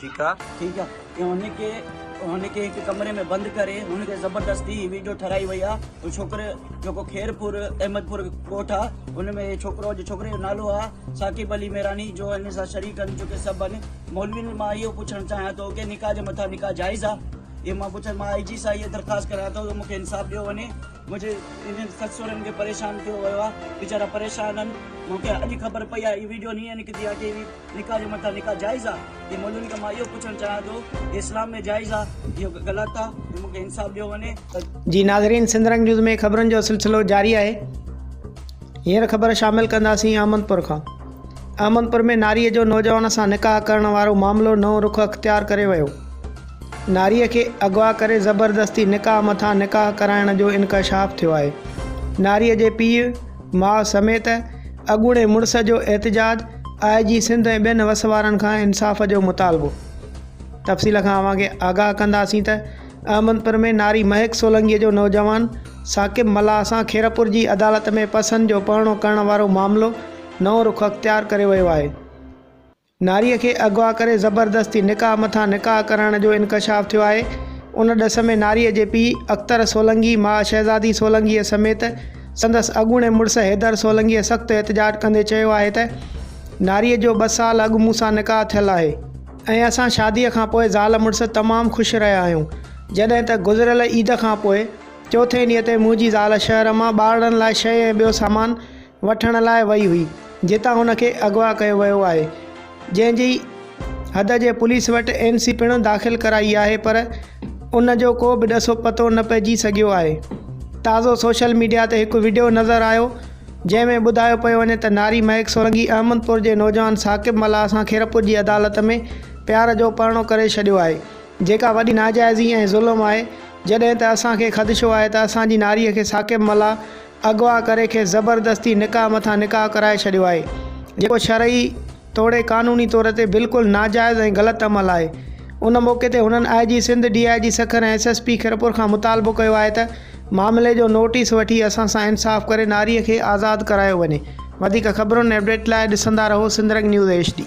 ٺيڪ آ. ۽ هن کي هن کي هڪ ڪمري ۾ بند ڪري هن کي زبردستي هي ويڊيو ٺھرائي وئي آ هو ڇوڪري جيڪو خيرپور احمد پور ڳوٺ آ ان ۾ هي ڇوڪرو جو ڇوڪري جو نالو آ ثاقب علي ميراڻي جو هن سان شريڪ آھن چونڪه سڀ آھن مولوين مان اهو پڇڻ چاهيان ٿو ڪي نڪاح جي مٿان نڪاح جائز آ اهي مان پڇا مان آئي جي سان اهي درخواست ڪريان ٿو ته مون کي انصاف ڏيو وڃي منهنجي انهن سس سهرن کي پريشان ڪيو ويو آ ويچارا پريشان آھن مون کي اڄ خبر پئي آ هي ويڊيو ني نڪتي آ ڪي نڪاح جي مٿان نڪاح جائز آ ڪي مولوين کان مان اهو پڇڻ چاهيان ٿو ڪي اسلام ۾ جائز آ اهو غلط آ ۽ مونکي انصاف ڏيو وڃي ته جي ناظرين سنڌ رنگ نيوز ۾ خبرن جو سلسلو جاري آهي هينئر خبر شامل ڪنداسين احمد پور کان احمد پور ۾ ناري جو نوجوان سان نڪاح ڪرڻ وارو معاملو نئون رخ اختيار ڪري ويو ناري کي اغوا ڪري زبردستي نڪاح مٿان نڪاح ڪرائڻ جو انڪشاف ٿيو آهي ناري جي پيء ماء سميت اڳوڻي مڙس جو احتجاج، آء جي سنڌ ۽ ٻين وس وارن کان انصاف جو مطالبو. تفصيل کان اوهان کي آگاهه ڪنداسين ته احمدپور ۾ ناري مهڪ سولنگي جو نوجوان ثاقب ملاح سان خيرپور جي عدالت ۾ پسن جو پهڻو ڪرڻ وارو معاملو نئون رخ اختيار ڪري ويو آهي. ناريء کي اغوا ڪري زبردستي نڪاح مٿان نڪاح ڪرائڻ جو انڪشاف ٿيو آهي ان ڏس ۾ ناريء جي پيء اختر سولنگي ماء شهزادي سولنگيء سميت سندس اڳوڻي مڙس حيدر سولنگيء سخت احتجاج ڪندي چيو آهي ته ناريء جو ٻه سال اڳ مون سان نڪاح ٿيل آهي ۽ اسان شاديء کان پوء زال مڙس تمام خوش رهيا آهيون جڏهن ته گذريل عيد کان پوء چوٿين ڏينهن تي منهنجي زال شهر مان ٻارڙن لاء شيء ۽ ٻيو سامان وٺڻ لاء وئي هئي، جتان هن کي اغوا ڪيو ويو آهي، جنهن جي حد جي پوليس وٽ اين سي پڻ داخل ڪرائي آهي پر ان جو ڪو به ڏسو پتو نه پئجي سگهيو آهي. تازو سوشل ميڊيا تي هڪ وڊيو نظر آيو، جنهن ۾ ٻڌايو پيو وڃي ته ناري مهڪ سرنگي احمدپور جي نوجوان ثاقب ملاح سان خيرپور جي عدالت ۾ پيار جو پرڻو ڪري ڇڏيو آهي، جيڪا وڏي ناجائزي ۽ ظلم آهي، جڏهن ته اسان کي خدشو آهي ته اسان جي ناري کي ثاقب ملاح اغوا ڪري کيس زبردستي نڪاح مٿان نڪاح ڪرائي ڇڏيو آهي جيڪو شرعي توڙي قانوني طور تي بلڪل ناجائز ۽ غلط عمل آهي ان موقعي تي هنن I G Sindh D I G Sukkur ۽ S S P Khairpur کان مطالبو ڪيو آهي ته معاملي جو نوٽيس وٺي اسان سان انصاف ڪري ناري کي آزاد ڪرايو وڃي وڌيڪ خبرون ۽ اپڊيٽ لاء ڏسندا رهو سنڌرنگ نيوز ايڇ ڊي.